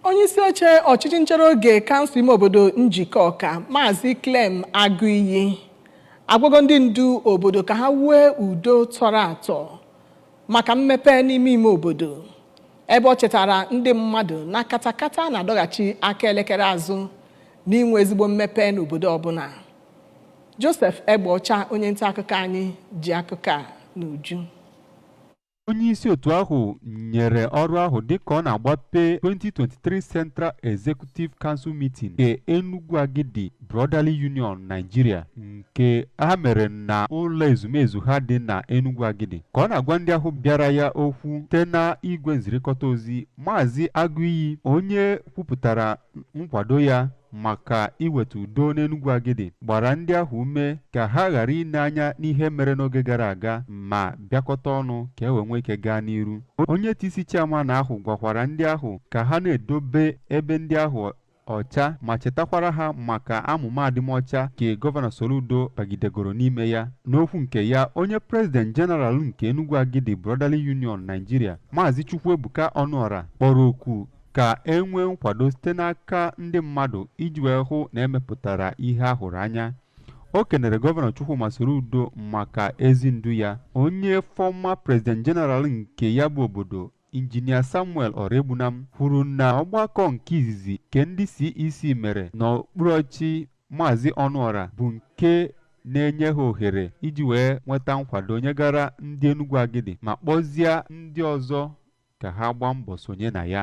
onye isi oche ọchịchị nchere oge kansụl ime obodo Njikọka maazị Clem Agụiyi agwago ndị ndu obodo ka ha wue udo tọrọ atọ maka mmepe n'ime ime obodo ebe ọ chetara ndị mmadụ na katakata na-adọghachi aka elekere azụ n'inwe ezigbo mmepe n'obodo ọbụla Joseph Egbeọcha onye nta akụkọ anyị ji akụkọ a n'uju onye isi otu ahụ nyere ọrụ ahụ dịka ọ na-agbape 2023 Central Executive Council Meeting nke Enugwu Agidi Brotherly Union Nigeria nke ha mere na ụlọ ezumezu ha dị na Enugwu Agidi ka ọ na-agwa ndị ahụ bịara ya okwu site na igwe nzirikọta ozi Maazị Agụiyi onye kwupụtara nkwado ya maka iweta udo n'Enugwu Agidi gbara ndị ahụ ume ka ha ghara ile anya n'ihe mere n'oge gara aga ma bịakọta ọnụ ka e wee nwee ike gaa n'iru onye TC chairman ahụ gwakwara ndị ahụ ka ha na-edobe ebe ndị ahụ ọcha ma chetakwara ha maka amụma adịmọcha nke gọvanọ Soludo bagidegoro n'ime ya n'okwu nke ya onye prezident jeneral nke Enugwu Agidi Brotherly Union Nigeria maazị Chukwuebuka Ọnụọra kpọrọ oku ka e nwee nkwado site n'aka ndị mmadụ iji wee hụ na e mepụtara ihe a hụrụ anya o kenere gọvanọ Chukwuma Soludo maka ezi ndu ya onye fọma prezident jeneral nke ya bụ obodo injinia samuel ọraegbunam kwuru na ọgbakọ nke izizi nke ndị CEC mere n'okpuru ọchị maazị ọnụọra bụ nke na-enye ha ohere iji wee nweta nkwado nyegara ndị enugwu agidi ma kpọzie ndị ọzọ ka ha gbaa mbọ sonye na ya